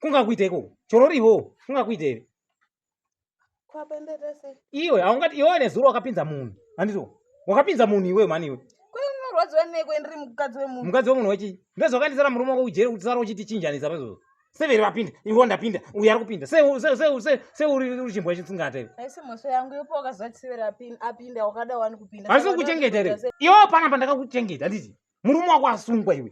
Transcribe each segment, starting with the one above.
kungakuita iko chororivo kungakuita ive iwe haungati iwe nezuro wakapinza munhu handito wakapinza munhu iwe mani iwe mukadzi wemunhu wechii ndozvakaendesana murume wako kujeri kuti sara uchitichinjanisa pezvozvo severi vapinda ivo ndapinda uyo ari kupinda seuri chimbwa chitsingata ivo handisi kukuchengeta ere iwo pana pandakakuchengeta handiti murume wako asungwa iwe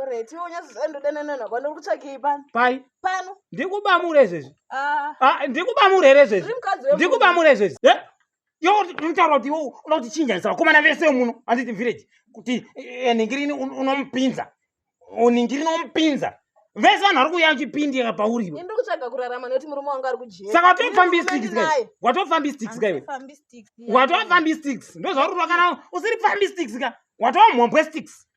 Alright, iwe unyazozana ndodananana kwani uri kutsvakei pano? Pai? Pano. Ndikubamure izvezvi. Ah. Ah, ndikubamure here izvezvi? Ndikubamure izvezvi. Eh? Yo unotaura kuti iwe unoda kuti chinja zisa vakomana vese muno handiti village kuti eh, ningirini unomupinza. Ningirini unomupinza. Vese vanhu vari kuuya chipindi yaka pauri iwe. Ndiri kutsvaga kurarama nekuti murume wangu ari kujera. Saka watofambi sticks kai? Watofambi sticks kai? Watofambi sticks. Ndozvauri kuda kana usiri fambi sticks ka? Watova mhombwe sticks.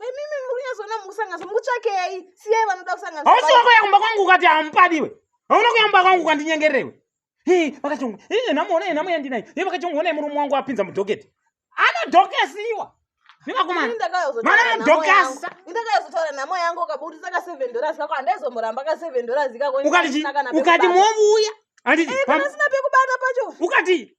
imimi muri kunyazoona mukusanganiswa mukutsvakei siyai vanoda kusanganiswa hausi wako yakumba kwangu ukati hamupadiwe hauna kuyamba kwangu ukandinyengererewe hii vakachongwa hii namuona namu yandinayo hii vakachongwa onai murume wangu apinza mudhoketi anodhokesiwa ndakayozotara nhamo yangu ukaburitsa ka seven dollars kako handaizomuramba ka seven dollars ikakoukati movuya anditi eh, pasina pekubata pacho ukati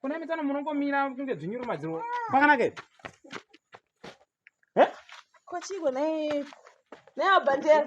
kuna mitano munongomira kunge dzvinyuru madziro kwakanaka ipi kochigwe naye naye abhandera